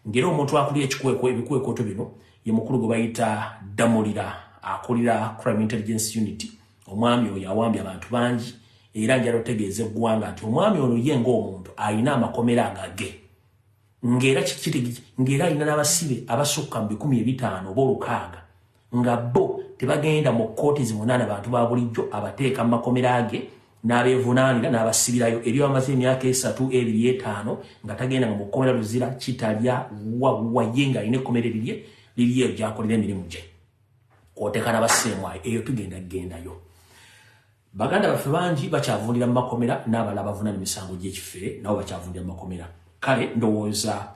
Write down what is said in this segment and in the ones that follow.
ngera omuntu akuli ekikweko ebikwekooto bino ye mukulu gwe bayita damulira akulira crime intelligence unit omwami oyo awambye abantu bangi era njala otegeeza eggwanga nti omwami ono ye ngaomuntu alina amakomera agage ngera kikitegi ngera alina n'abasibe abasukka mu bikumi ebitaano oba olukaaga nga bo tebagenda mu kkooti zivunaana bantu ba bulijjo abateeka mu makomera ge n'abeevunaanira n'abasibirayo ebyo bamaze emyaka esatu ebiri etaano nga tagenda nga mu kkomera luzira kitalya wawaye ng'alina ekkomera erirye liriyo ebyakolera emirimu gye kwoteka n'abasseemwayo eyo tugenda kugendayo baganda baffe bangi bakyavundira mu makomera n'abala abavunana emisango gy'ekifere nabo bakyavundira mu makomera kale ndowooza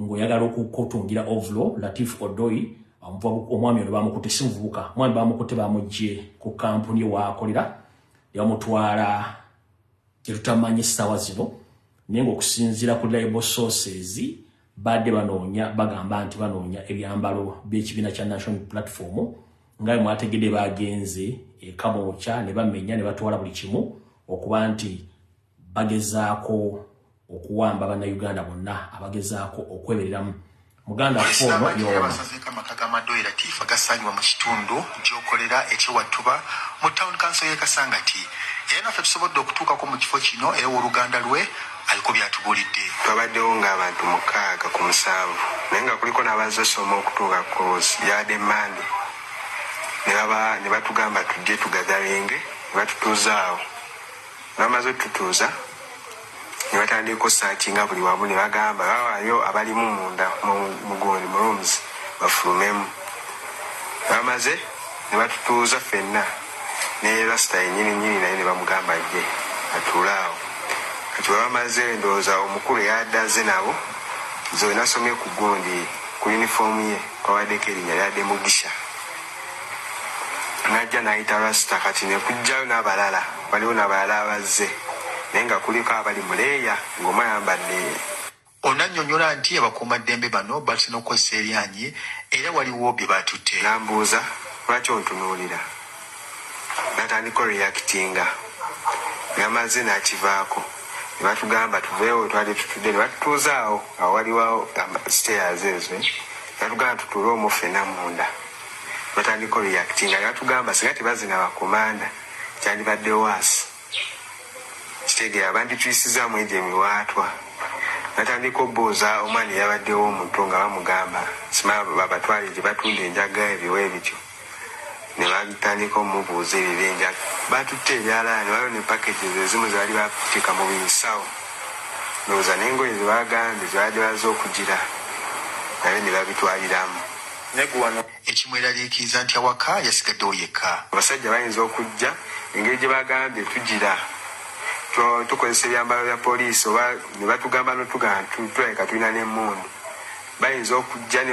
ng'oyagala okukotungira ovulo latif odoi omwami ono bamukute si muvubuka omwami bamukute bamugye ku kampuni ewaakolera yamutwala kyetutamanyi essaawa zino naye ngaokusinziira ku libo sources badde banoonya bagamba nti banoonya ebyambalo by'ekibiina kya national platform nga bwe mwategedde baagenze ekamwokya ne bamenya ne batwala buli kimu okuba nti bagezaako okuwamba bannayuganda bonna abagezaako okwebereramu muganda fonoyoamasazekamakagamadoeratifa gasangibwa mu kitundu gyokolera ekyewattuba mu town council ye kasangati era naffe tusobodde okutuukako mu kifo kino era woluganda lwe aliko byatubuulidde twabaddewo ng'abantu mukaaga ku musanvu naye nga kuliko n'abazze osoma okutuuka kos yade mande ne batugamba tujje tugatharinge ne batutuuzaawo Bamaze otutuuza ne batandiika osearchinga buli wamu ne bagamba bawaayo abalimu munda mu mu gundi mu rooms bafulumemu. Bamaze ne batutuuza ffenna ne Rasta yennyini nnyini naye ne bamugamba ajje atuule awo. Kati bwe bamaze ndowooza omukulu eyabadde azze nabo nze we nasomye ku gundi ku yunifoomu ye kwabaddeko erinnya lya Demugisha. najja nayita rasta kati nekujjayo nabalala waliwo nabalala abazze naye nga kuliko abali muleeya ngomu ayambadde Ono annyonnyola nti abakuumaddembe bano batuse n'okukozesa eryanyi era waliwo bye baatutte. N'ambuuza lwaki ontunuulira n'atandika oreactinga nga mazze n'akivaako. ne batugamba tuveewo wetwali tutudde ne batutuuzaawo awo waliwo stairs ezo eh. batugamba tutuule omu ffena munda batandika reactinga ne batugamba singa tebazina bakomanda kyandibadde waasi kitegeera bandituyisizaamu egyo emiwaatwa natandika obuuza omwana eyabaddewo omuto nga bamugamba sima babatwale gye batunda enjaga ebiwa ebityo ne batandika omubuuza ebibinja baatutte ebyalaani waliwo ne packages ezimu ze baali baateeka mu binsawo ndowooza n'engoye ze baagambye ze babadde bazze okugira nabyo ne babitwaliramu ne gu wano. ekimweraliikiriza nti awaka yasigaddewo yekka. Abasajja bayinza okujja engeri gye baagambye tugira tu, tukozesa ebyambalo bya poliisi oba ne batugamba n'otugamba nti tulabika tulina n'emmundu bayinza okujja ne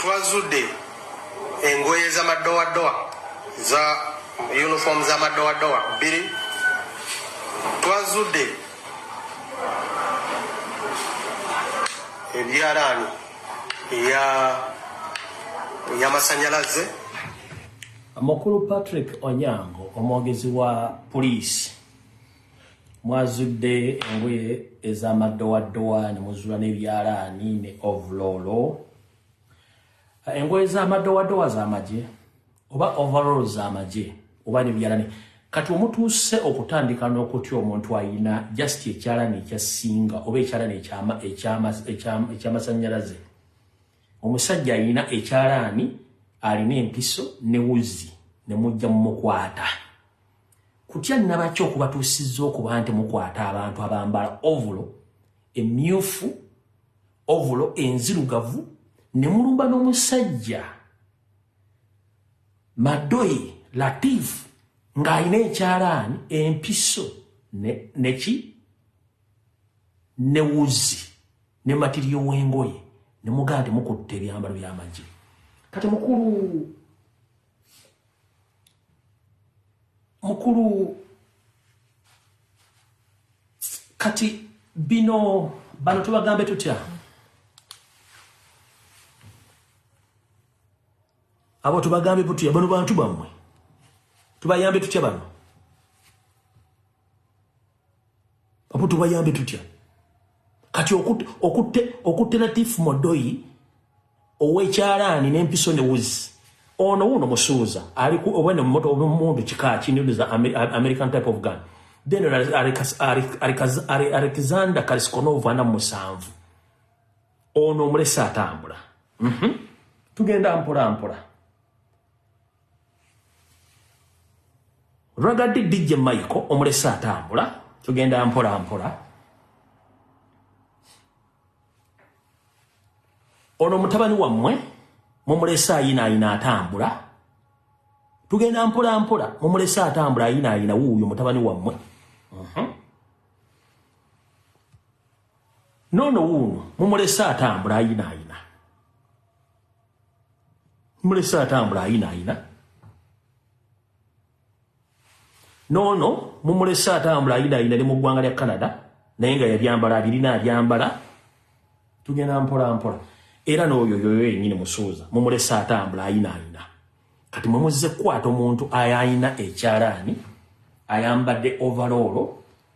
Twazudde engoye z'amadowadowa za uniform z'amadowadowa bbiri. Twazudde ebyalaani eya eyamasanyalaze Mukulu Patrick Onyango omwogezi wa Poliisi. Mwazudde engoye ez'amaddowaddowa ne muzuula n'ebyalaani ne ovuloolo. Engoye z'amaddowaddowa z'amagye oba ovuloolo z'amagye oba n'ebyalaani. Kati omutuuse okutandika n'okutya omuntu alina just ekyalaani ekya ssinga oba ekyalaani eky'amasannyalaze. Omusajja alina ekyalaani alina empiso ne wuzi ne mujja mu mukwata. kutya nabaki okubatuusizza okuba nti mukwata abantu abambala ovulo emyufu ovulo enzirugavu ne mulumba n'omusajja madoyi latif ng'alina ekyalaani empiso neki ne wuzi ne matiriyo w'engoye ne mugaa nti mukutte ebyambalo by'amagye kati mukulu mukulu kati bino bano tubagambe tutya abo tubagambe butya bano bantu bamwe tubayambe tutya bano omuntu bayambe tutya kati okutte latif modoyi owekyalaani nempiso ne wuzi ono wuno musuuza alimumundu kikaki nza american type of gun then alexander kaliskonov ana musanvu ono omulesa atambula mhm. tugenda mpolampola Ragadi DJ Michael omulese atambula tugenda mpola mpola ono mutabani wammwe mumulese ayina ayina atambula tugenda mpola mpola mumulese atambula ayina ayina wuuyo mutabani wammwe mhm. nono wuuno mumulese atambula ayina ayina mulese atambula ayina ayina noono mumulese atambula ayina ayina ne mu ggwanga lya canada naye nga yabyambala abirina abyambala tugenda mpola mpola era n'oyo yoyo yenyini musuuza mumulese atambula ayina ayina kati mwemuzze kukwata omuntu ayayina ekyalaani ayambadde ovaloolo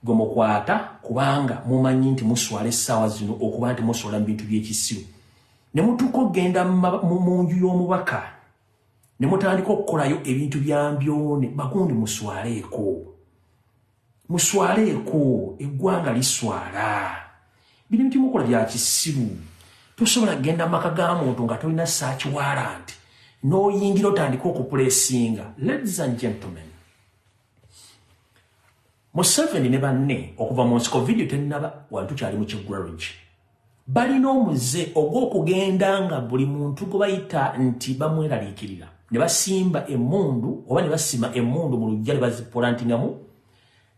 gwe mukwata kubanga mumanyi nti muswala essaawa zino okuba nti muswala mu bintu by'ekisiru ne mutuuka okugenda mu nju y'omubaka ne mutandika okukolayo ebintu bya mbyone bagundi muswaleeko muswaleeko eggwanga liswala bino bintu mukola bya kisiru tosobola kugenda maka ga muntu nga tolina saakiwaala nti n'oyingira otandika okupulesinga ladies and gentlemen Museveni ne banne okuva mu nsiko vidiyo tennaba wantu kyali mu kigwarage balina omuze ogw'okugenda nga buli muntu gwe bayita nti bamweraliikirira ne basimba emmundu oba ne basima emmundu mu lujja ne bazipolantingamu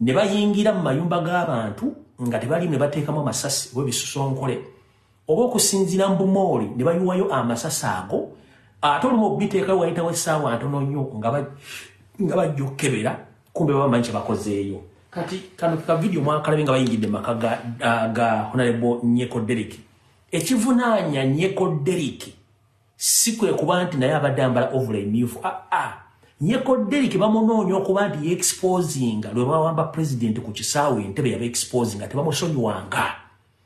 ne bayingira mu mayumba g'abantu nga tebalimu ne bateekamu amasasi oba ebisusonkole oba okusinziira mu bumooli ne bayiwayo amasasi ago ate olumu okubiteekayo wayitawo essaawa ntono nnyo nga bajja okukebera kumbe babamanyi kye bakozeeyo kati kano ka vidiyo mwakalabe nga bayingidde mu maka ga honarebo nyeko deriki ekivunaanya nyeko deriki si kwe kuba nti naye abadde ambala ovula emyufu aa ah, ah. nyeko deriki bamunoonya okuba nti yeexposinga lwe bawamba pulezidenti ku kisaawe entebe yaba exposinga tebamusonyiwanga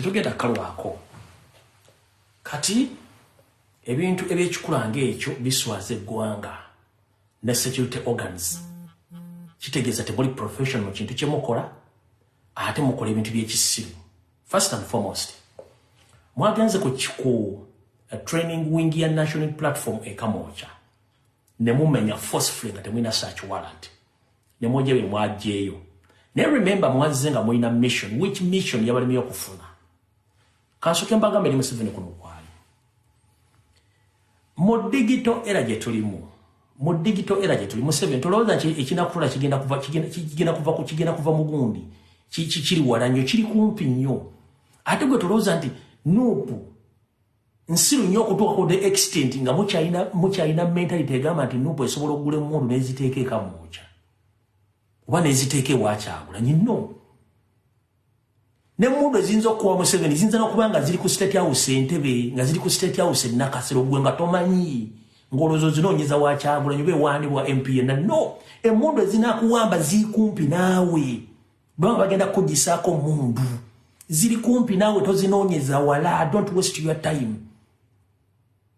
tetugenda kalwako kati ebintu ebyekikula ngaekyo biswaza eggwanga ne security organs kitegeeza temuli profession mu kintu kyemukola ate mukola ebintu byekisiru first and foremost mwagenze ku kiku eh, training wing ya national platform ekamooca nemumenya forcefully nga temulina search warrant nemwoja bye mwajeeyo naye remember mwazze nga mulina mission which mission yabalimiyo okufuna kansoke mbagambe eri museveni kuno Mu digital era gyetulimu mu digital era gyetuli museveni tolowooza nti ekinakutula kigenda kuva kigenda kuva ku kigenda kuva mu gundi kiri wala nnyo kiri kumpi nnyo ate gwe tolowooza nti nuupu nsiru nnyo okutuukako the extent nga mukyalina mukyalina mentality egamba nti nuupu esobola okugula emundu neziteeka ekamwokya oba neziteeka ewakyagula nyinno nemundu eziyinza okuwa museveni ziyinza nokuba nga ziri ku state house entebe nga ziri ku state house enakasiro gwe nga tomanyi ngolozo zinonyeza wakyagulanyi oba ewandi wa mpna no emundu ezinakuwamba zikumpi naawe bwanga bagenda kukujisaako mundu ziri kumpi naawe tozinonyeza wala don't waste your time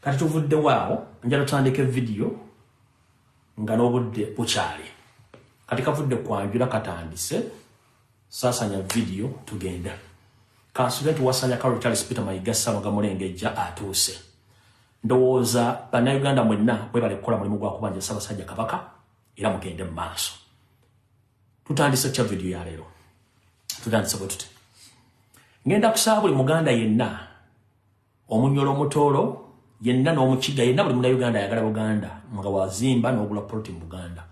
Kati tuvuddewo awo njala tutandike vidiyo nga n'obudde bukyali kati kavudde kwanjula katandise sasanya vidiyo tugenda kansule nti wasanya karo charles peter mayiga salo nga mulengejja atuuse ndowooza bannayuganda mwenna bwebale kukola mulimu gwa kubanja ssabasajja kabaka era mugende mu maaso tutandise kya vidiyo ya leero tutandise bwe tute ngenda kusaba buli muganda yenna Omunyolo omutoolo yenna n'omukiga yenna buli muna Uganda ayagala Buganda nga wazimba n'ogula poloti mu Buganda.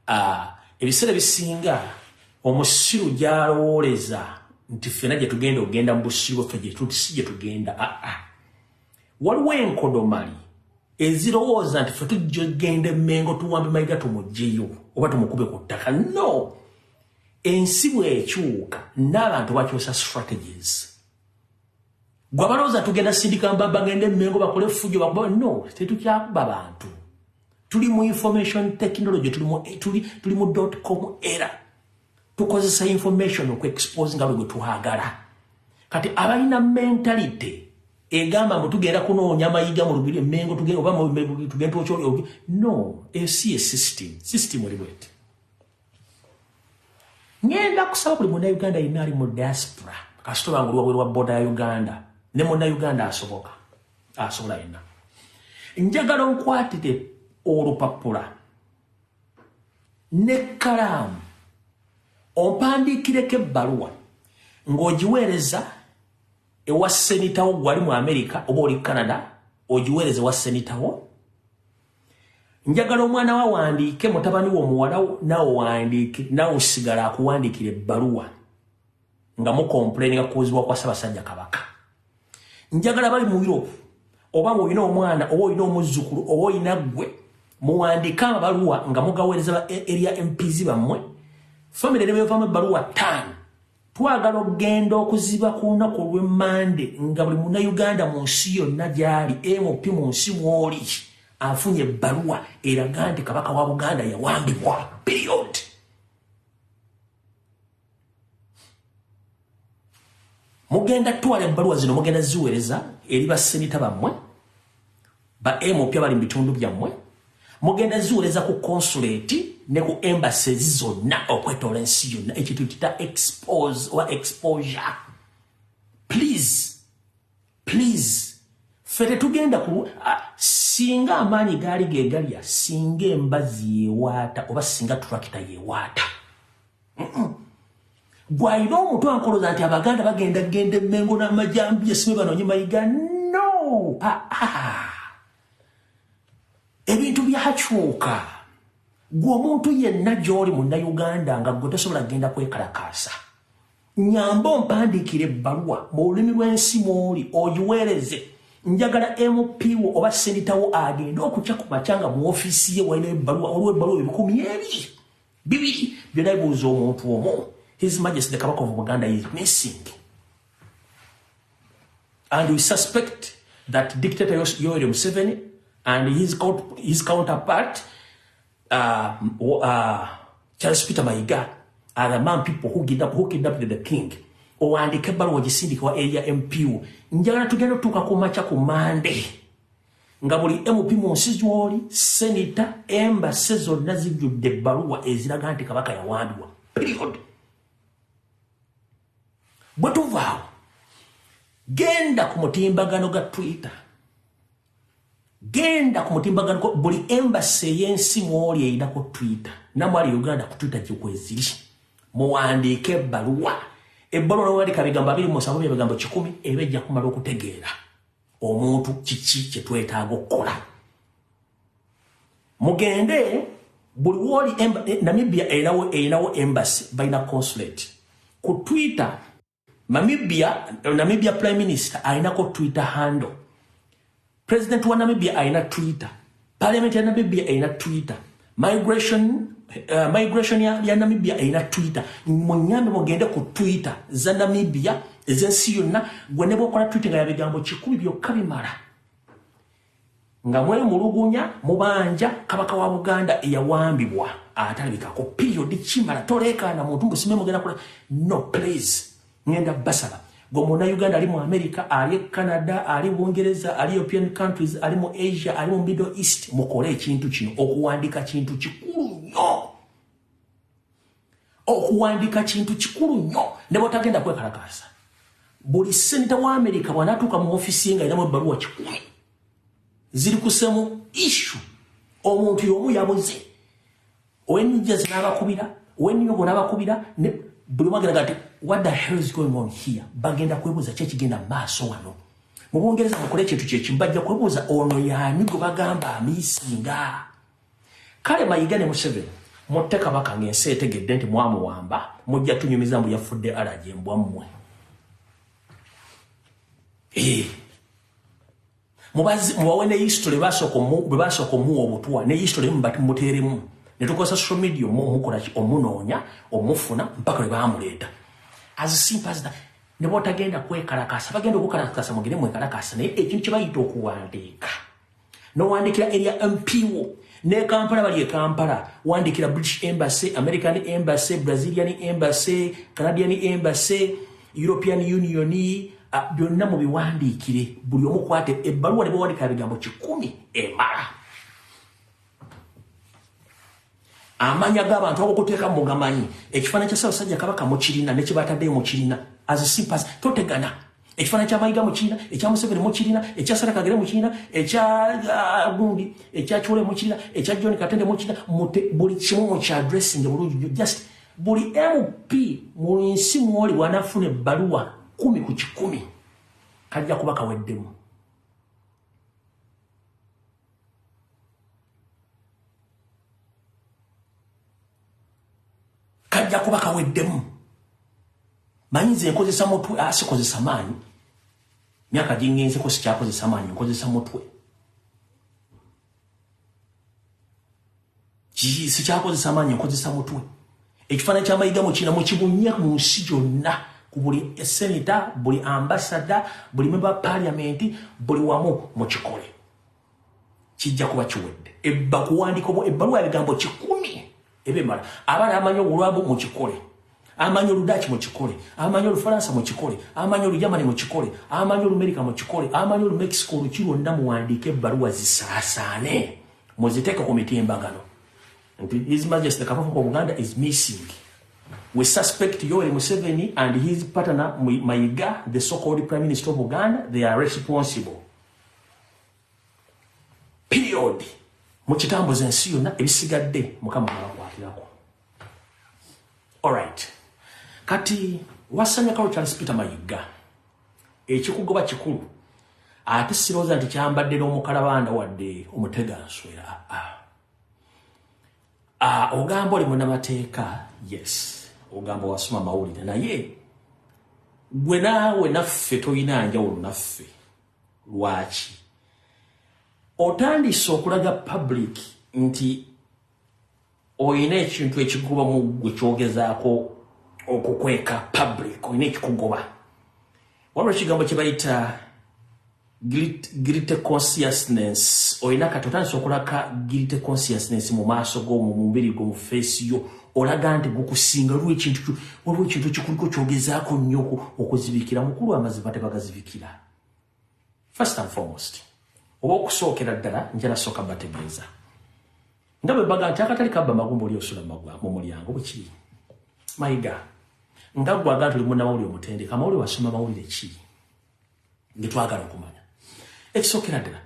Ah, ebiseera ebisinga omusiru gyalowooleza nti ffena gye tugenda okugenda mu busiru bwaffe gye tuti si gye tugenda aa ah, ah. waliwo enkodomali ezirowooza nti ffe tujja okugenda emmengo tuwambe mayiga tumugyeyo oba tumukube ku ttaka no ensi bwekyuka n'abantu bakyusa strategies gwe abalowooza tugenda sindika mba bagende emengo bakole effujo bakuba no tetukyakuba bantu tuli mu information technology tuli mu tuli mu dot com era tukozesa information oku expose nga lwe twagala kati abalina mentality egamba mbu tugenda kunoonya amayiga mu lubiri emengo tugenda oba tugenda okyoli no esi ye system system oli bwete ngenda kusaba buli muna Uganda yenna ali mu diaspora kasita obanga oluwabwe lwa boda ya Uganda ne muna Uganda asoboka asobola yenna njagala onkwatire olupapula ne kalaamu ompandiikireko ebbaluwa ng'ogiweereza ewa senitawo gwali mu amerika oba oli canada ogiweereza ewa senitawo njagala omwana wa wandiike mutabani wo muwalawo nawe wandiike nawe osigala akuwandiikira ebbaluwa nga mukompuleninga kuuzibwa kwa ssabasajja kabaka njagala bali mu europe oba ngaolina omwana oba olina omuzzukulu oba olina ggwe muwandiike amabaluwa nga mugaweereza erya mpizi bammwe famire nebevamu ebbaluwa ttaano Twagala okugenda okuziba ku lunaku olw'e Mmande nga buli Munnayuganda mu nsi yonna gy'ali MOP mu nsi mw'oli afunye ebbaluwa eraga nti Kabaka wa Buganda yawambibwa. Period. Mugenda twala ebbaluwa zino mugenda ziweereza eri bassenita bammwe Ba MP abali mu bitundu byammwe mugenda ziwereza ku konsuleeti ne ku embassies zonna okwetoola ensi yonna ekintu kita expose oba exposure please please ffe tetugenda ku singa amaanyi gaali gegalya singa embazi yewaata oba singa turakita yewaata mm -mm. Gwe alina omutu ankoloza nti abaganda bagenda genda emengo namajambi yasibe banonye mayiga no ah, ah. ebintu byakyuka gwe omuntu yenna gyoli munauganda nga gwe tosobola genda kwekalakaasa nyamba ompandiikira ebbaluwa mu lulimi lw'ensi mwoli ogiweereze njagala mp wo oba senditawo agende okukya ku makya nga mu ofiisi ye walina ebbaluwa olwo ebbaluwa ebikumi ebiri Bibiri byona bibuuza omuntu omu his majesty the kabaka of Buganda is missing and we suspect that dictator Yoweri Museveni and his, his counterpart uh, uh, Charles Peter Maiga are the man people who kidnap who kidnap the king owandiika ebbaluwa ogisindika wa area mpu njagala tugenda otuuka ku makya ku mande nga buli mp mu nsi z'oli senita embase zonna zijjudde ebbaluwa eziraga nti kabaka yawambibwa period bwe tuvaawo genda ku mutimbagano ga twitter genda ku mutimbagano buli embase ey'ensi mw'oli eyinako twitter namwali uganda ku twitter gyekweziri muwandiike ebbaluwa ebbaluwa nowandika bigambo abiri musanvu byebigambo kikumi eba ejja kumala okutegeera omuntu kiki kyetwetaaga okukola mugende buli woli eh, namibia erinawo erinawo embassy balina consulate ku twitter namibia namibia prime minister alinako twitter handle president wa namibia alina twitter Parliament ya Namibia erina Twitter. Migration uh, migration ya, ya Namibia erina Twitter. Munyambe mugende ku Twitter za Namibia ezensi yonna gwe ne bwokola Twitter nga yabigambo kikumi byokka bimala nga mwe mulugunya mubanja kabaka wa Buganda eyawambibwa atalabikako period kimala toleekaana muntu mbusimbe mugenda kula no please ngenda basala gwe muna uganda ali mu america ali e canada ali bungereza ali european countries ali mu asia ali mu middle east mukole ekintu kino okuwandika kintu kikulu nyo okuwandika kintu kikulu nyo ne botagenda kwekalakasa buli senta wa america bwanatuuka mu ofisi nga eramu ebbaluwa kikumi ziri kusemu ishu omuntu yomu yabuze When just nabakubira, when you go nabakubira, buli mwagenda gati, what the hell is going on here? Bagenda kwebuza kye kigenda maaso wano. Mu Bungereza mukole kintu kye kimu bajja kwebuza ono yaani gwe bagamba amisinga. Kale Mayiga ne Museveni mutte kabaka ng'ensi etegedde nti mwamuwamba mujja tunyumiza mbu yafudde alaje mbwa mmwe. Hey. Eh. mubazi mubawe ne history basoko mu basoko mu obutwa ne history mu bati muteremu ne tukosa social media mu mukola ki omunonya omufuna mpaka ba amuleta as simple as that ne bota genda kwekala kasa bagenda okukala kasa mugire mu ekala kasa ne ekintu kibayita okuwandika no wandikira area MPO ne Kampala bali e Kampala wandikira British embassy American embassy Brazilian embassy Canadian embassy European Union byonna mu biwandiikire buli omu kwata ebbaluwa ne bawandika ebigambo kikumi emala amanya g'abantu agokuteeka mu gamanyi ekifaananyi kya Ssaabasajja Kabaka mukirina ne kyebataddeyo mukirina as simpas totegana ekifaananyi kya Mayiga mukirina ekya Museveni mukirina ekya Sarah Kagere mukirina ekya uh, gundi ekya Chole mukirina ekya John Katende mukirina buli kimu mu kya dressing bulungi just Buli MP mu nsi mwoli bwanafuna ebbaluwa kumi ku kikumi kajja kuba kaweddemu. Kajja kuba kaweddemu. Manyi nze nkozesa mutwe asikozesa ah, maanyi. Myaka gingenze ko sikyakozesa maanyi nkozesa mutwe. sikyakozesa maanyi nkozesa mutwe ekifaananyi kya mayiga mukina mukibunye mu nsi gyonna ku buli seneta buli ambasada buli memba paliamenti buli wamu mukikole kijja kuba kiwedde ebba kuwandika obwo ebbaluwa ebigambo kikumi ebimala abaana amanyi obulwabu mukikole amanyi oludaaki mukikole amanyi olufalansa mukikole amanyi olujamani mukikole amanyi olumerika mukikole amanyi olumexico oluki lwonna muwandiika ebbaluwa zisaasaane muziteke ku mitimbagano nti his majesty kabaka wa buganda is missing we suspect yoweri museveni and his partner mayiga the so called prime minister of buganda they are responsible period mu kitambo zensi yonna ebisigadde mukama abakwatirako alright kati wasanyakawo charles peter mayiga ekikugoba kikulu ate sirowooza nti kyambadde n'omukalabanda wadde omutega nswera ah, ah, ogamba oli munamateeka yes ogamba wasoma mawulire naye gwe naawe naffe tolina njawulo naffe lwaki otandise okulaga public nti oyina ekintu ekikuba mu gwe kyogezaako okukweka public oyina ekikugoba waliwo ekigambo kye bayita gilite consciousness oyina kati otandisa okulaka gilite consciousness mu maaso go mu mubiri gwo mu feesi yo olaga nti gukusinga lwo ekintu waliwo ekintu ekikuliko kyogezaako nnyo okuzibikira mukulu amazima tebagazibikira first and foremost oba okusookera ddala njala soka bategeeza nga bwe baga nti akatali kabba magumba oli osula magwa mu mulyango bwekiri mayiga nga gwaga tuli munamawulire omutendeka amawulire wasoma mawulire ki getwagala okumanya ekisookera ddala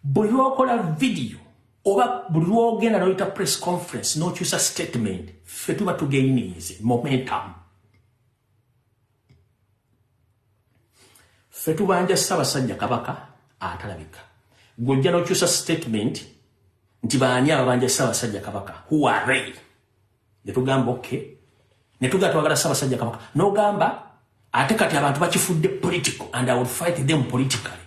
buli lwokola vidiyo oba buli lwogenda noyita press conference nokyusa statement fe tuba tugeyinize momentum ffe tubanja ssabasajja kabaka atalabika gwojja nokyusa statement nti baani ababanja ssabasajja kabaka huare netugamba ok netuga twagala ssabasajja kabaka nogamba ate kati abantu bakifudde political and i will fight them politically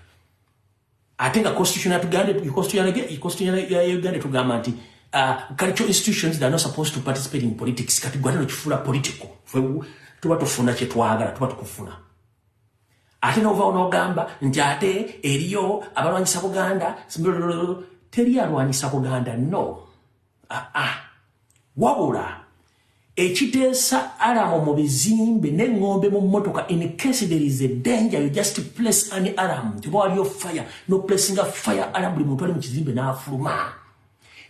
ate nga constitution ya tuganda constitution ya constitution ya Uganda tugamba nti uh, cultural institutions that are not supposed to participate in politics kati gwata no kifula political fwe tuba tufuna kye twagala tuba tukufuna ate no va onogamba nti ate eriyo abalwanyisa Buganda teri alwanyisa Buganda no ah, ah. wabula ekiteesa alamu mu bizimbe neŋŋombe mu mmotoka in case there is a danger you just place an alarm nti oba waliyo fire no placinga fire alarm buli muntu ali mu kizimbe n'afuluma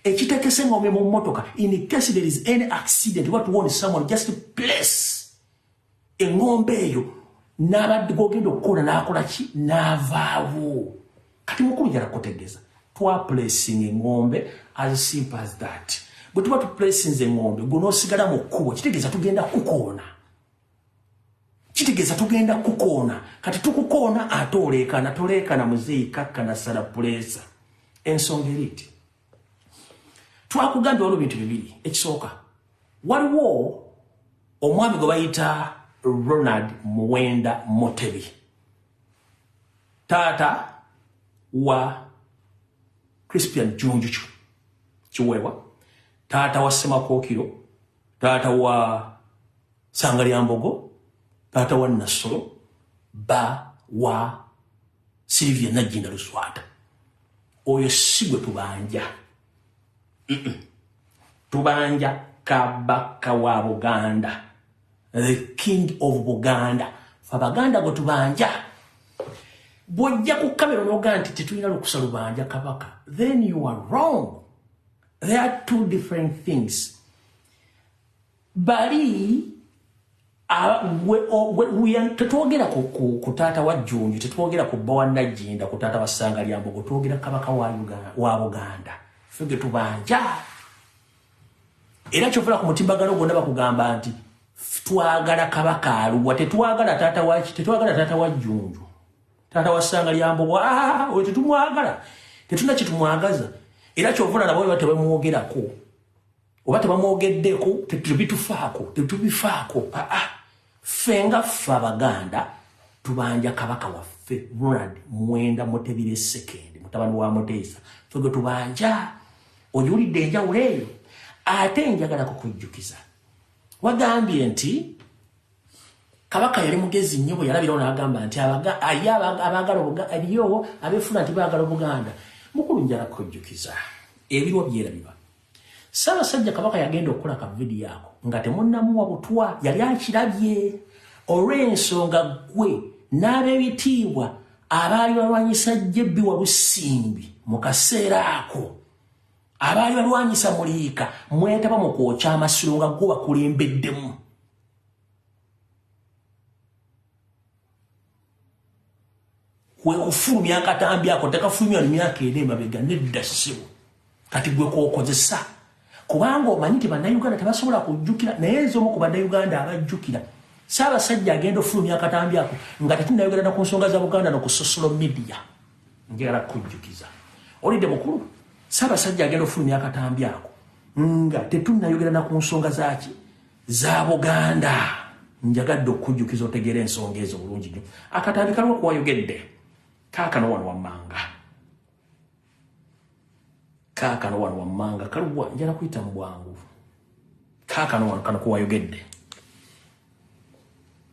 ekitekesa eŋŋombe mu mmotoka in case there is any accident oba tuwone someone just place eŋŋombe eyo n'abadde gwogenda okukola n'akola ki n'avaawo kati mukulu jala kutegeeza twaplacing eŋŋombe as simple as that bwe tuba tuplacinze eŋŋombe gwe n'osigala mu kkubo kitegeeza tugenda kukoona kitegeeza tugenda kukoona kati tukukoona ate oleekana toleekana muzeeyi kakkana sala puleesa ensonga eri nti twakugambye waliwo bintu bibiri ekisooka Waliwo omwami gwe bayita Ronald Muwenda Mutebi, taata wa Crispian Junjucu Kiweewa, taata wa Semakookiro, taata wa Sangalyambogo, taata wa Nassolo, ba wa Sylvia Najjinda Luswata oyo si gwe tubanja tubanja kabaka wa Buganda the king of Buganda Abaganda gwe tubanja bwojja ku kamera noga nti tetulina lukusa lubanja kabaka then you are wrong there are two different things Bali tetwogera ku taata wa jjunju tetwogera ku bba wa najjinda ku taata wa ssanga lya mbogo twogera kabaka wa buganda fe ge tubanja era kyofuna ku mutimbagano gwonna bakugamba nti twagala kabaka aluwa tetwagala taata waki tetwagala taata wa jjunju taata wa ssanga lya mbogo ah, oyo tetumwagala tetuna kyetumwagaza era kyofuna nabo batebamwogerako oba tebamwogeddeko tetubitufaako tetubifaako aa ffe nga ffe abaganda tubanja kabaka waffe ronald mwenda mutebire sekendi mutabani wa muteesa fe gwe tubanja ojiwulidde enjawulo eyo ate njagala kukujjukiza wagambye nti kabaka yali mugezi nnyo bwe yalabirawo n'agamba nti aye abaagala aliyo abeefuna nti baagala obuganda mukulu njala kujjukiza ebirwa byerabiba Ssaabasajja Kabaka yagenda okukola ka vidiyo ako nga temunnamuwa butwa yali akirabye olw'ensonga ggwe n'ab'ebitiibwa abaali balwanyisa jjebbi walusimbi mu kaseera ako abaali balwanyisa muliika mwetaba mu kwokya amasiro nga gwo bakulembeddemu kwe kufulumya akatambi ako tekafulumya no myaka ena emabega nedda ssebo kati gwe kwokozesa kubanga omanyi nti bannayuganda tebasobola kujjukira naye nze omu ku bannayuganda abajjukira saabasajja agenda ofulumya akatambi ako nga tetunayogerana ku nsonga za buganda no ku sosolo midiya njagala kujjukiza olidde mukulu saabasajja agenda ofulumya akatambi ako nga tetunayogerana ku nsonga zaki za buganda njagadde okukujjukiza otegeera ensonga ezo bulungi nyo akatambi kaliwo kuwayogedde kaakano wano wammanga kaakano wano wammanga kaliwa njala kuyita mu bwangu kaakano wano kano kuwayogedde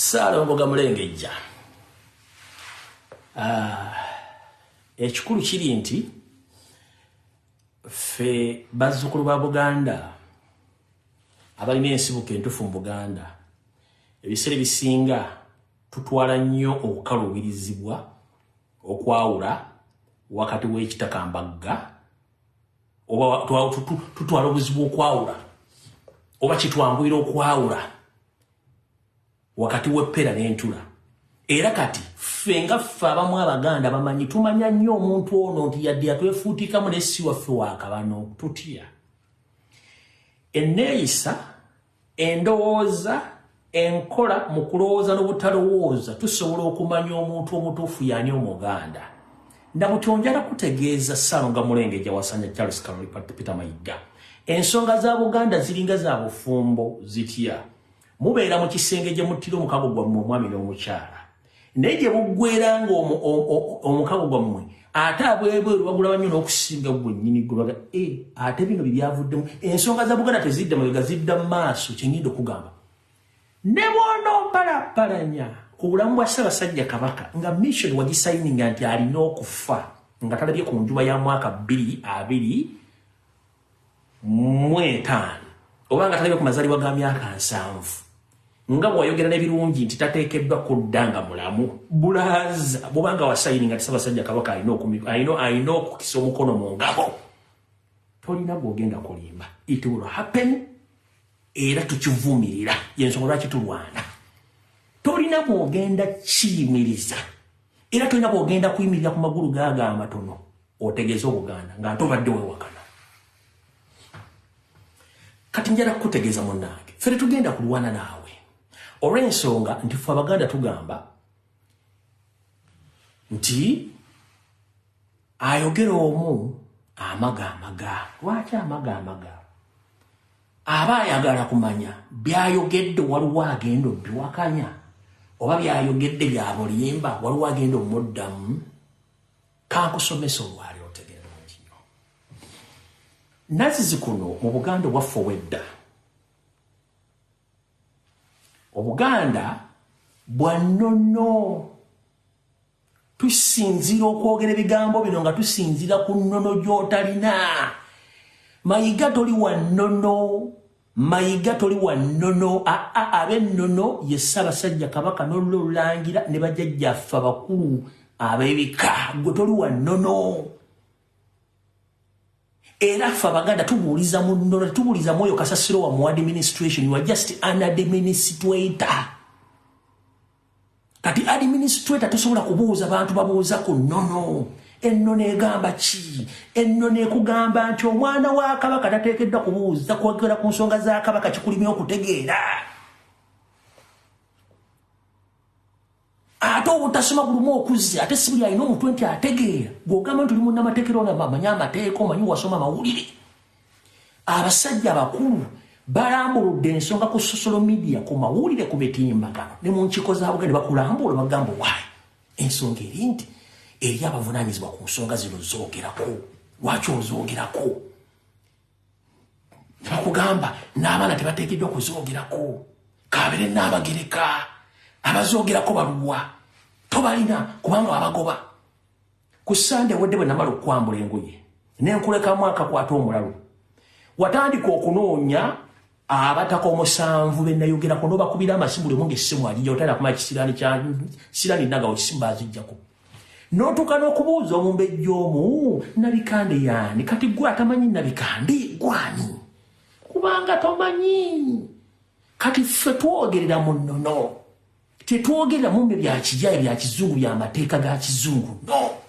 Ssaalongo Gamulengejja, ah, ekikulu kiri nti ffe bazzukulu ba Buganda abalina ensibuko entufu mu Buganda ebiseera ebisinga tutwala nnyo okukaluubirizibwa okwawula wakati w'ekitakambagga oba tutwala obuzibu okwawula oba kitwanguyira okwawula wakati w'eppera n'entula era kati ffe nga ffe abamu abaganda bamanyi tumanya nnyo omuntu ono nti yadde yatwefuutikamu naye si waffe wakabano tutya enneeyisa endowooza enkola mu kulowooza n'obutalowooza tusobola okumanya omuntu omutuufu yaani omuganda Nabuto njala kutegeeza ssalo nga mulenge gyawasanya Charles Kaloli Peter Mayiga. Ensonga za Buganda ziringa za bufumbo zitya? Mubeera mu kisenge gye muttira omukago gwammwe omwami n'omukyala. Naye gye buggwera ng'omukago gwammwe ate abwebweru bagulaba nnyo n'okusinga gwennyini gulaga e eh, ate bino bye byavuddemu ensonga za Buganda tezidda mabega zidda mu maaso kye ngenda okugamba. Ne bw'onompalappalanya ku bulamu bwa Ssabasajja Kabaka nga mission wagisayininga nti alina okufa nga talabye ku njuba ya mwaka bbiri abiri mu etaano oba nga talabye ku mazalibwa ga myaka nsanvu nga bwewayogera n'ebirungi nti tateekeddwa kudda nga mulamu bulaaza bwobanga wasayininga nti Ssabasajja Kabaka alina okukisa omukono mu ngabo tolina gwogenda kulimba it will happen era tukivumirira yensonga lwaki tulwana tolina bwogenda kiyimiriza era tolina bwogenda kuyimirira ku magulu gaago amatono otegeeza obuganda nga nte obadde wewakana kati njala kukutegeeza munnange fe tetugenda kulwana naawe olw'ensonga nti fe abaganda tugamba nti ayogera omu amaga amaga lwaki amaga amaga aba ayagala kumanya byayogedde waliwo agenda obiwakanya oba byayogedde byabulimba waliwo agenda omuddamu kankusomesa olwali otegere bulungi nyo nazizi kuno mu buganda obwaffe obwedda obuganda bwa nnono Tusinzira okwogera ebigambo bino nga tusinzira ku nnono gy'otalina. Mayiga toli wa nnono. Mayiga toli wa nnono. Aa ab'ennono ye Ssaabasajja Kabaka n'olula olulangira ne bajajjaffe abakulu ab'ebika. Ggwe toli wa nnono. Era ffe Abaganda tubuuliza mu nnono, tubuuliza mw'oyo kasasiro wa mu administration. You are just an administrator. kati administrator tosobola kubuuza bantu babuuza ku nono ennono egamba ki ennono ekugamba nti omwana wa kabaka tateekeddwa kubuuza kwogera ku nsonga za kabaka kikulimya okutegeera ate obutasoma bulumu okuzze ate si buli alina omutwe nti ategeera gweogamba nti oli munnamateekera onamanyi amateeka omanyi wasoma amawulire abasajja abakulu balambuludde ensonga ku sosolo midiya ku mawulire ku mitimbagano ne mu nkiko za buganda bakulambula bagamba waayi ensonga eri nti eri abavunanyizibwa ku nsonga zino zoogerako lwaki ozoogerako nebakugamba n'abaana tebateekeddwa kuzoogerako kabere n'abagereka abazoogerako baluwa tobalina kubanga abagoba Ku Sunday wedde bwe namala okukwambula engoye ne nkulekamu akakwata omulalu watandika okunoonya abataka omusanvu be nayogerako n'obakubira amasimu limu ng'essimu agijja otayina kumala kisiraani kya siraani naga osimu baazijjako n'otuuka n'okubuuza omumbejja omu nabikande yaani kati gwe atamanyi nabikande gwani kubanga tomanyi kati ffe twogerera mu nnono Tetwogera mumbe bya kijaya bya kizungu bya mateeka ga kizungu no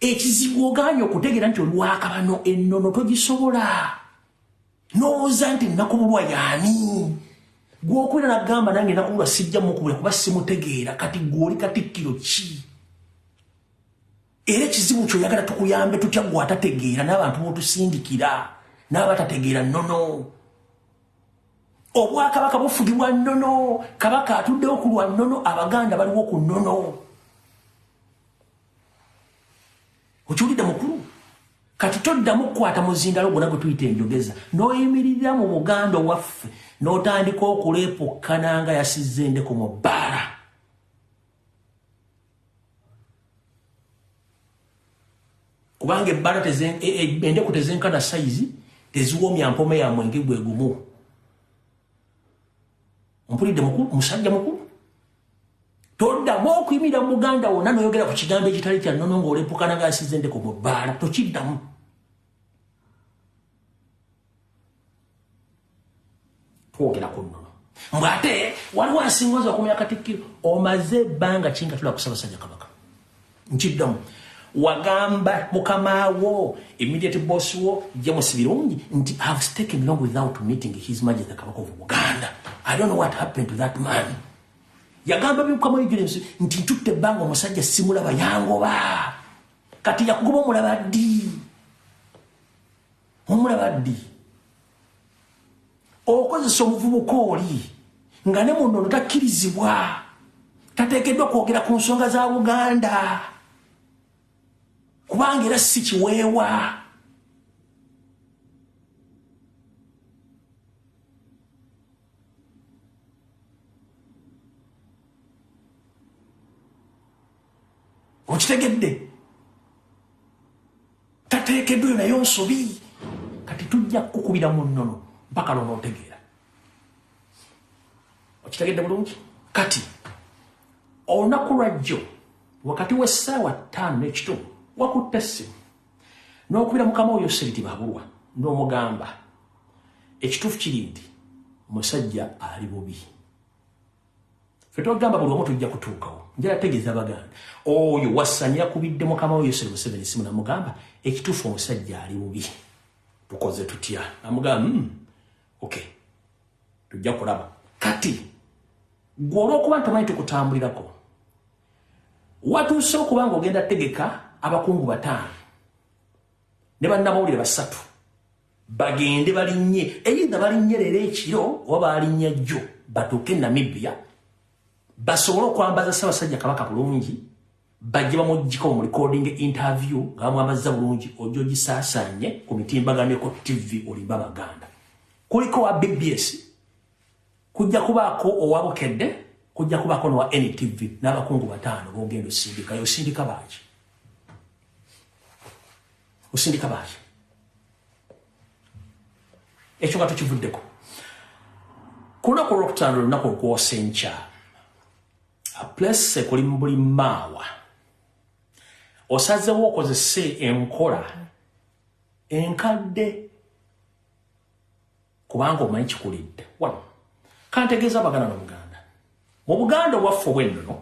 ekizibu oganye okutegera nti olwakabano ennono togisobola nowooza nti nakubulwa yaani gwokwera nagamba nange nakubulwa sijja mukubula kuba simutegeera kati gwoli katikkiro ki era ekizibu kyoyagala tukuyambe tutya gwe atategeera n'abantu botusindikira n'abatategeera nnono no. obwakabaka bufugibwa nnono kabaka atuddewo ku lwa nnono abaganda baliwo ku nnono okiwulidde mukulu kati toddamu kukwata muzindalo gwona gwe tuyita enjogeza n'oyimirira mu buganda owaffe n'otandika okuleepukkana nga yasizza endeku mu bbaala kubanga ebbala e- e- endeku tezenkana sayizi teziwomya mpoma yamwe nge gwe gumu mpulidde mukulu musajja mukulu toddamu okuyimira muganda wonna noyogera ku kigambo ekitali kya nono ngaolepukana nga asize endeko mu bbaala tokiddamu twogera ku nnono mbw ate waliwo asingoza okumya katikkiro omaze ebbanga ki nga tula kusabasajja kabaka nkiddamu wagamba mukamawo immediate boss wo james birungi nti have taken long without meeting his majesty kabaka of buganda i don't know what happened to that man yagamba bimukamawo ejulensi nti ntutte ebbanga omusajja simulaba yangoba kati yakugoba omulaba ddi omulaba ddi okozesa omuvubuka oli nga ne muno ono takkirizibwa tateekeddwa kwogera ku nsonga za buganda kubanga era si kiweewa okitegedde tateekeddwa eyo nayo nsobi kati tujja kukukubira mu nnono mpaka lona otegeera okitegedde bulungi kati olunaku lwajjo wakati w'essaawa ttaano n'ekitundu wakutte essimu n'okubira mukama oyo siriti babulwa n'omugamba ekituufu kiri nti musajja ali bubi fetwagamba buli omu tujja kutuukawo njala tegeza baganda oyo wasanya kubidde mukama wo yoseri museveni simu namugamba ekituufu omusajja ali bubi tukoze tutya namugamba mm, ok tujja kulaba kati gwe olwokuba ntomanyi tukutambulirako watuuse okuba nga ogenda tegeka abakungu bataano ne bannamawulire basatu bagende balinnye eyinda balinnye leero ekiro oba baalinnya jjo batuuke namibia basobole okwambaza ssabasajja kabaka bulungi bajje bamugiko mu recording interview nga bamwamazza bulungi ojja ogisaasaanye ku mitimbaganeko tv olimba baganda kuliko wa bbs kujja kubaako owa bukedde kujja kubaako nowa ntv n'abakungu bataano bogenda osindikayo osindika baaki osindika baali ekyo nga tukivuddeko ku lunaku olwokutaano olunaku olukwosa enkya place kuli mubuli maawa osazewo okozese enkola enkadde kubanga omanyi kikulidde wano kantegeeza abaganda nomuganda mu buganda obwaffe obwennono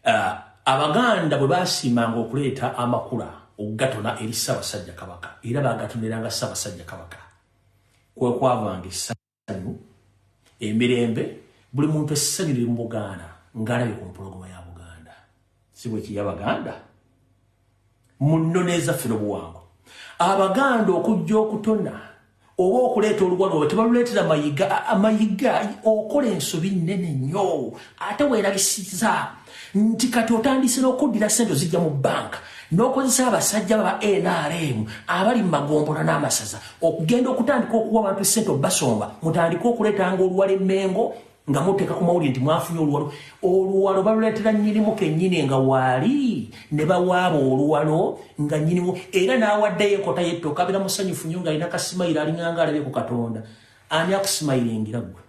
uh, abaganda bwe basiimanga okuleeta amakula okugatona eri ssaabasajja kabaka era bagatoneranga ssaabasajja kabaka kwekwavanga essanyu emirembe buli muntu essanyu liri mu bugaana ng'alabye ku mpologoma yabo si bwe kiri abaganda mu nnono ezaffe n'obuwango abaganda okujja okutona oba okuleeta oluwalo oba tebaluleetera mayiga amayiga okola ensobi nnene nnyo ate weerabisiza nti kati otandise n'okuddira ssente ozijja mu bbanka n'okozesa abasajja baba nrm abali mu magombolo n'amasaza okugenda okutandika okuwa abantu ssente obasonga mutandike okuleetanga oluwala emmengo nga muteeka ku mawulire nti mwafunye oluwalo oluwalo baluleetera nnyinimu kennyini nga waali ne bawaaba oluwalo nga nnyinimu era n'awaddeyo enkota yetto kabira musanyufu nnyo nga alina kasimayiro alinganga alabye ku katonda ani akusimayiro engira ggwe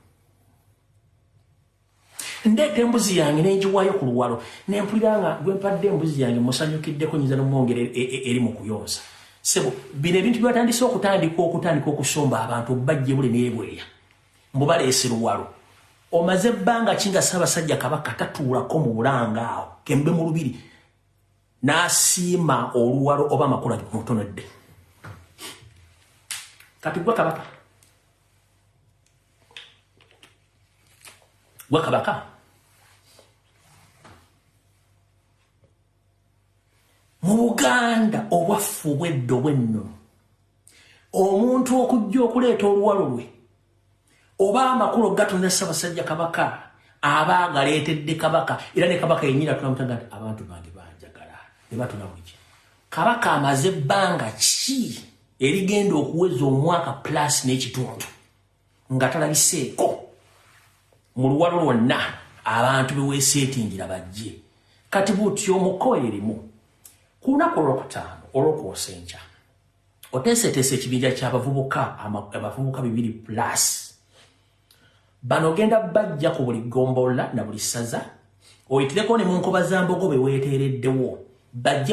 ndeeta embuzi yange nenjiwayo ku luwalo nempulira nga gwempadde embuzi yange musanyukiddeko nyinza nomwongera e, e, eri mu kuyonsa sebo bino ebintu byatandise okutandika okutandika okusomba abantu bajjebule nebweya mbu baleese luwalo omaze ebbanga ki nga ssaabasajja kabaka tatuulako mu bulanga awo kembe mu lubiri n'asiima oluwalo oba amakula mutonedde kati gwa kabaka gwa kabaka mu buganda obwaffe obwedda obwennono omuntu okujja okuleeta oluwalo lwe oba amakulu gatonda ssabasajja kabaka aba agaleetedde kabaka era ne kabaka yenyini atulamutaga nti abantu bange banjagala ne batuna buli kimu kabaka amaze ebbanga ki erigenda okuweza omwaka plus n'ekitundu nga talabiseeko mu luwalo lwonna abantu beweeseetingira bajje kati butyo omuko erimu ku lunaku olwokutaano olwokwosa enkya oteeseteesa ekibinja ky'abavubuka abavubuka bibiri plus bano ogenda bajja ku buli ggombolola na buli ssaza oyitireko ne mu nkoba za mbogo be weeteereddewo bajje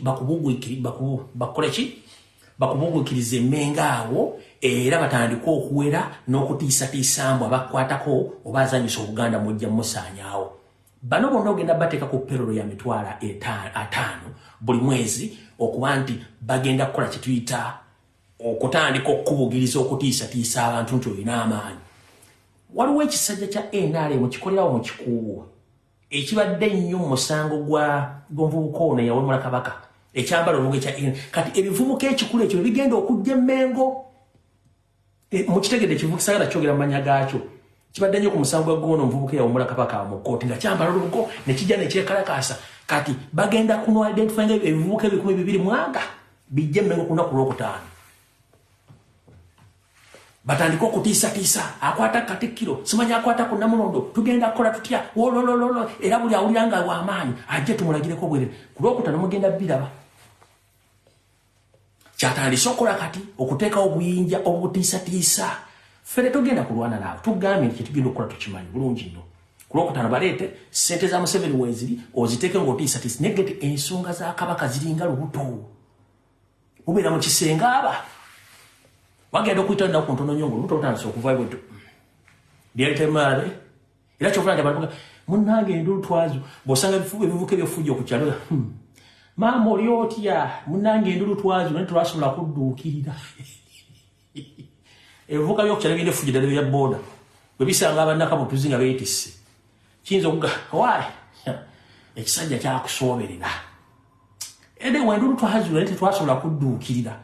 bakubuguikiri bakoleki bakubugukiriza emmenga awo era batandika okuwera n'okutiisatiisa mbu abakwatako oba azanyisa obuganda mujja musaanyaawo bano bonna ogenda bateeka ku perolo ya mitwalo ataano buli mwezi okuba nti bagenda kukola kyetuyita okutandika okukubugiriza okutiisatiisa abantu nti olina amaanyi waliwo ekisajja kya nrm kikolerawo mu kikuuwa ekibadde ennyo mu musango gwa gw'omuvubuka ono eyawemula kabaka ekyambala oluga ekya in kati ebivubuka ekikulu ekyo bigenda okujja emmengo e, mukitegedde ekivubuka sagala kyogera mu manya gaakyo kibadde nnyo ku musango gwa gwona omuvubuka eyawemula kabaka mu kkooti nga kyambala olubugo ne kijja ne kyekalakaasa kati bagenda kuno identify nga ebivubuka ebikumi bibiri mwaga bijja emmengo ku lunaku lwokutaano batandika okutiisatiisa akwata katikkiro simanyi akwata ku namulondo tugenda kukola tutya wololololo era buli awulira nga wamaanyi ajje tumulagireko bwerere ku lwokutano mugenda biraba kyatandise okukola kati okuteekawo obuyinja obutiisatiisa ffe tetugenda kulwana naabo tugambye nti kyetugenda okukola tukimanyi bulungi nnyo ku lwokutano baleete ssente za museveni weeziri oziteeke ngaotiisatiisa naye gete ensonga za kabaka ziringa lubuto ubeera mu kisenge aba wagenda okuyita naku ntono nyo nga olubuto lutandise okuvayo bweddu byetemaale era kyovula nti abantu munange endulu twazo bwosanga ebivuka ebyofujja okukyalo hmm. maama oli otya munange endulu twazo naye twasobola kudduukirira ebivuka byokukyala birina efujjo ddala bya booda bwe bisanga abannakabutuzi nga beetisse kiyinza okuga waali ekisajja kyakusooberera ede wendulu twazula naye tetwasobola kudduukirira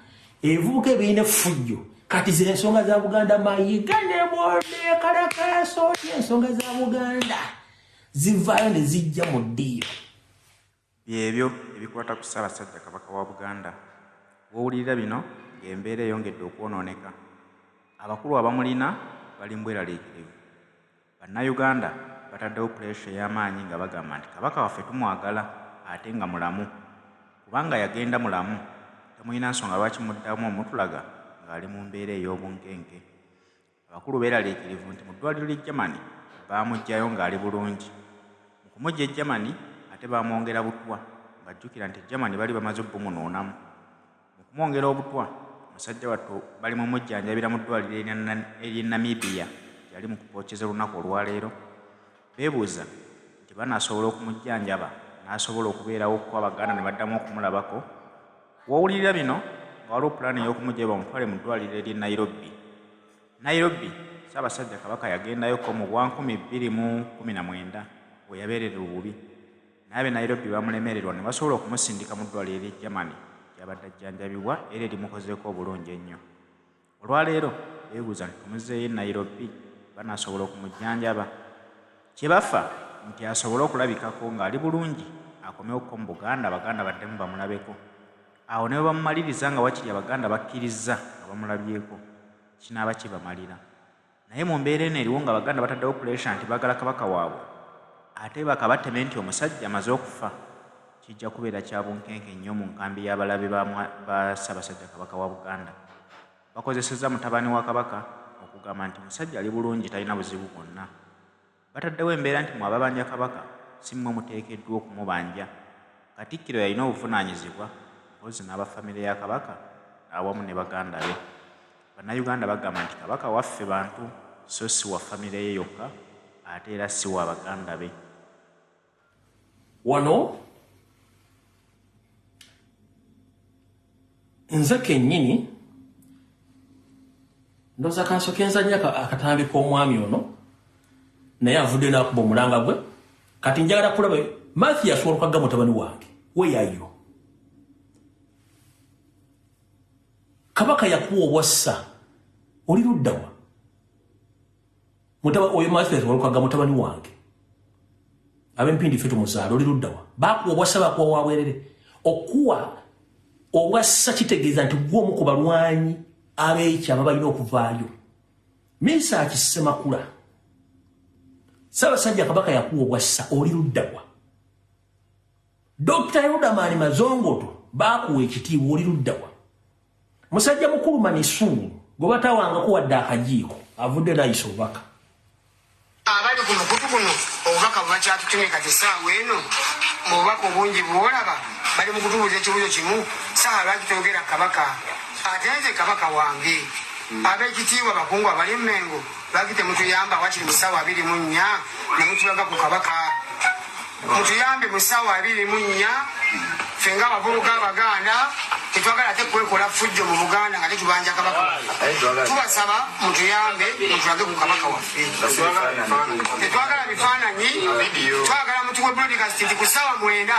ebivubuka ebirina efujjo kati ze ensonga za buganda mayiga ne bode kalakaso oti ensonga za buganda zivaayo ne zijja mu ddiiro Byebyo ebikwata ku Ssaabasajja Kabaka wa Buganda. Wowulirira bino ng'embeera eyongedde okwonooneka. Abakulu abamulina bali mu bweraliikirivu. Bannayuganda bataddewo puleesha ey'amaanyi nga bagamba nti Kabaka waffe tumwagala ate nga mulamu. Kubanga yagenda mulamu, temulina nsonga lwaki muddamu omutulaga ng'ali mu mbeera ey'obunkenke. Abakulu beeraliikirivu nti mu ddwaaliro ly'e Germany baamuggyayo ng'ali bulungi. Mu kumuggya e Germany ate baamwongera butwa ng'ajjukira nti e Germany bali bamaze obumunuunamu. Mu kumwongera obutwa, musajja wattu bali mu mujjanjabira mu ddwaaliro ery'e Namibia gye yali mu kupookyeza olunaku olwaleero. Beebuuza nti banaasobola okumujjanjaba n'asobola okubeerawo kuba Abaganda ne baddamu okumulabako. Wawulirira bino nga waliwo pulaani ey'okumugya bamutwale mu ddwaliro ery'e Nairobi. Nairobi, Ssaabasajja Kabaka yagendayo ko mu bwa nkumi bbiri mu kkumi na mwenda we yabeererera obubi. Naye ab'e Nairobi baamulemererwa ne basobola okumusindika mu ddwaliro ery'e Germany gy'abadde ajjanjabibwa era erimukozeeko obulungi ennyo. Olwaleero beebuuza nti tumuzeeyo e Nairobi banaasobola okumujjanjaba. Kye bafa nti asobole okulabikako ng'ali bulungi akomewo ko mu Buganda Abaganda baddemu bamulabeko. Awo ne bwe bamumaliriza nga wakiri Abaganda bakkirizza nga bamulabyeko, kinaaba kibamalira. Naye mu mbeera eno eriwo nga Abaganda bataddewo puleesha nti baagala Kabaka waabwe ate bakabateme nti omusajja amaze okufa, kijja kubeera kya bunkenke nnyo mu nkambi y'abalabe ba Ssaabasajja Kabaka wa Buganda. Bakozesezza mutabani wa Kabaka okugamba nti musajja ali bulungi talina buzibu bwonna. Bataddewo embeera nti mwe ababanja Kabaka si mwe muteekeddwa okumubanja. Katikkiro yalina obuvunaanyizibwa mpozzi n'aba famire ya Kabaka awamu ne baganda be. Bannayuganda bagamba nti Kabaka waffe bantu so si wa famire ye yokka ate era si wa baganda be. wano nze kenyini ndoza kansoke nzanya akatambi k'omwami ono naye avudde nakuba omulanga gwe kati njagala kulaba mathias walukagga mutabani wange weyayo kabaka yakuwa obwassa oli luddawa mutaba oyo Mathias Walukaga mutabani wange abempindi ffe tumuzaala oli luddawa bakuwa obwassa bakuwa wabwerere okuwa obwassa kitegeeza nti gwe omu ku balwanyi abeekyama balina okuvaayo minsa akisemakula sabasajja kabaka yakuwa obwassa oli luddawa dr yudamani mazongoto bakuwa ekitiibwa oli luddawa musajja mukulu manisuuni gwe batawangako wadde akajiiko avudde nayisa obubaka abali ku mukutu guno obubaka bwebakyatutumye kati esaawa eno mu bubaka obungi bwolaba bali mu kutubuuza ekibuuzo kimu saha lwaki toyogera kabaka ate nze kabaka wange hmm. abekitiibwa bakungu abali mumengo lwaki temutuyamba wakiri mu saawa abiri mu nnya nemutulaga ku kabaka Mutuyambe mu ssaawa abiri mu nnya ffe nga abavubuka Abaganda tetwagala ate kwekola ffujjo mu Buganda nga tetubanja Kabaka waffe. Tubasaba mutuyambe mutulage ku Kabaka waffe. Tetwagala bifaananyi, twagala mutuwe broadcast nti ku ssaawa mwenda.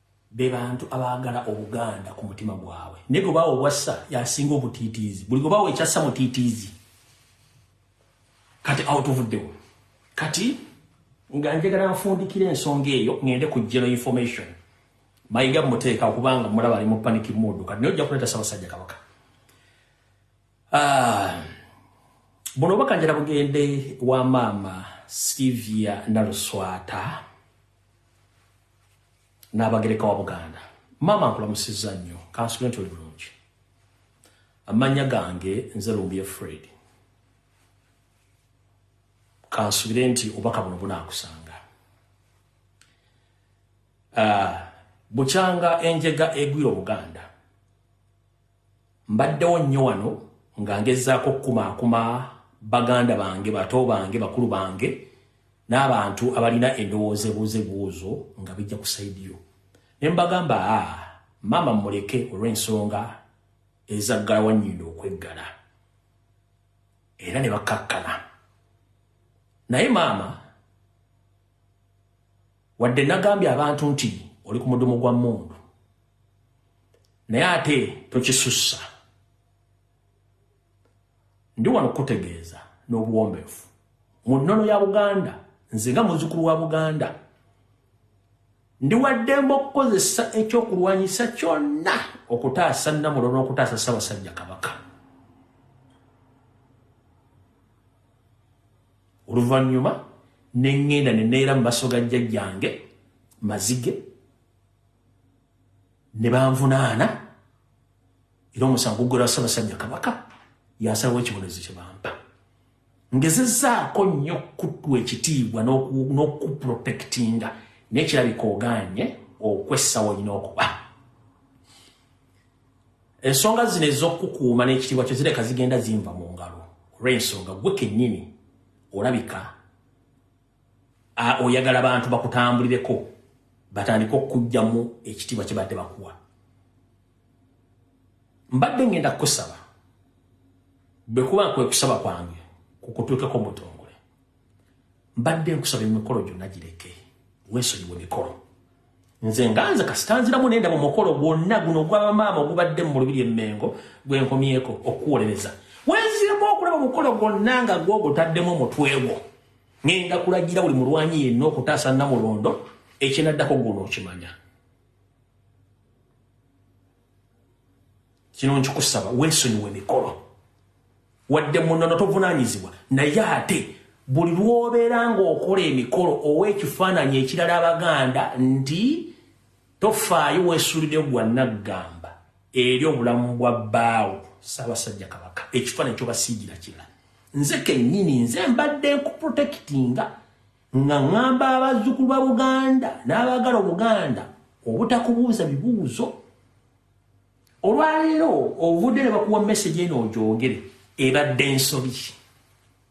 be bantu abaagala obuganda ku mutima gwabwe naye gwe bawa obwassa yasinga obutiitiizi buli gwe bawa ekyassa mutiitiizi kati awo tuvuddewo kati nga njagala nfundikira ensonga eyo ngende ku geno information mayiga muteeka okubanga mulaba ali mu panic mood kati naye ojja kuleeta sabasajja kabaka ah, buno obaka njala bugende wa maama sylvia naluswata n'abagereka wa buganda maama nkulamusizza nnyo kansule nti oli bulungi amannya gange nze lumbuye fred kansubire nti obaka buno bunaakusanga ah, bukyanga enjega egwira obuganda Mbaddewo nnyo wano nga ngezaako okukumaakuma baganda bange, bato bange, bakulu bange n'abantu abalina endowooza ebuuza ebibuuzo nga bijja ku sayidi yo. Ne mbagamba, a ah, maama mmuleke olw'ensonga ezaggala wannyindo okweggala. Era ne bakkakkana. Naye maama, wadde nagambye abantu nti oli ku mudumu gwa mmundu, naye ate tokisussa ndi wano kukutegeeza n'obuwombeefu mu nnono ya buganda nze nga muzukulu wa buganda ndi waddembe okukozesa ekyokulwanyisa kyonna okutaasa namulo n'okutaasa ssabasajja kabaka oluvannyuma ne ŋŋenda ne neera mu maso ga jjajjange mazige ne banvunaana era omusango guggulwa ssabasajja kabaka yasalawo ekibonerezo kye bampa ngezezaako nnyo okukuwa ekitiibwa n'okukuprotektinga nekirabika ogaanye okwessawo olina okuba ensonga zino ez'okukukuuma n'ekitiibwa kyo zireka zigenda zinva mu ngalo olw'ensonga gwe kennyini olabika A, oyagala bantu bakutambulireko batandika okujjamu ekitiibwa kyebadde bakuwa mbadde ngenda kukusaba bwekuba nkwe kusaba kwange kukutuukeko mutongole mbadde nkusaba emikolo gyonna gireke wensonyiwa emikolo nze nga nze kasitanziramu nenda mu mukolo gwonna guno ogwabamaama ogubadde mu lubiri emmengo gwenkomyeko okuwolereza wenziramu okulaba omukolo gwonna nga gwogutaddemu omutwe gwo Ngenda kulagira buli mulwanyi yenna okutaasa Namulondo ekinaddako guno okimanya. Kino nkikusaba weesonyiwe emikolo. Wadde munono tovunaanyizibwa naye ate buli lw'obeera ng'okola emikolo owa ekifaananyi ekirala Abaganda nti Tofaayo wesulideyo gwa naggamba eri obulamu bwa bbaawo Ssaabasajja Kabaka ekifaananyi kyobasiigira kirala. Nze kennyini nze mbadde nkuprotekitinga nga ŋŋamba abazzukulu ba Buganda n'abaagala Obuganda obutakubuuza bibuuzo. Olwaleero ovudde ne bakuwa mesegi eno ogyogere ebadde nsobi.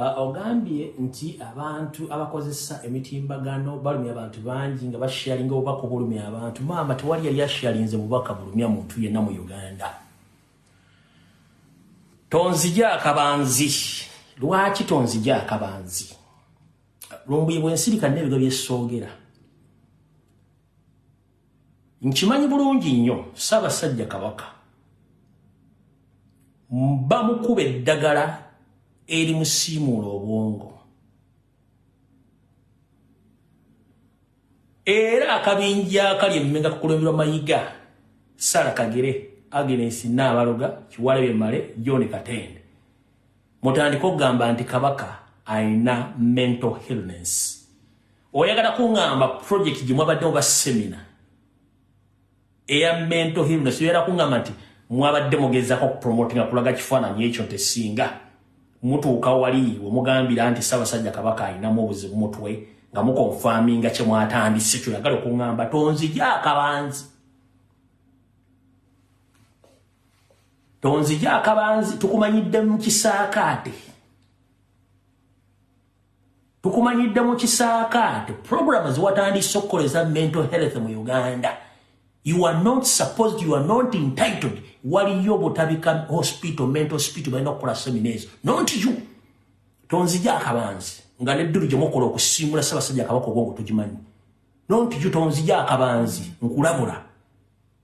Ah, ogambye nti abantu abakozesa emitimbagano balumya abantu bangi nga basharinga obubaka obulumya abantu maama tewali yali asharinze bubaka bulumya muntu yenna mu uganda tonzija akabanzi lwaki tonzija akabanzi lumbuye bwensirika nebiga byesogera nkimanyi bulungi nnyo ssaabasajja kabaka bamukuba eddagala erimusiimuula obwongo era akabinja akali emmenga kukulemberwa mayiga sara kagere agnes naabaloga kiwalebye male john katende mutandike okugamba nti kabaka alina mental illness oyagala kungamba project gye mwabaddewo ba semina eya mental illness oyagala kungamba nti mwabadde mugezako okupromotinga kulaga kifaananyi ekyo nti singa mutuuka wali wemugambira nti ssabasajja kabaka alinamu obuzibu mutwe nga mukonfaminga kye mwatandise kyoyagala okungamba tonzija akabanzi tonzija akabanzi tukumanyidde mu kisaakaate tukumanyidde mu kisaakaate programu ziwatandise okukoleza mental health mu uganda you are not supposed you are not entitled waliyo obutabika hospital mental hospital balina okukola semina ezo not you tonzija akabanzi nga neddulu gyemukola okusiimula ssabasajja akabaka obwongo tugimanyi not you tonzija akabanzi nkulabula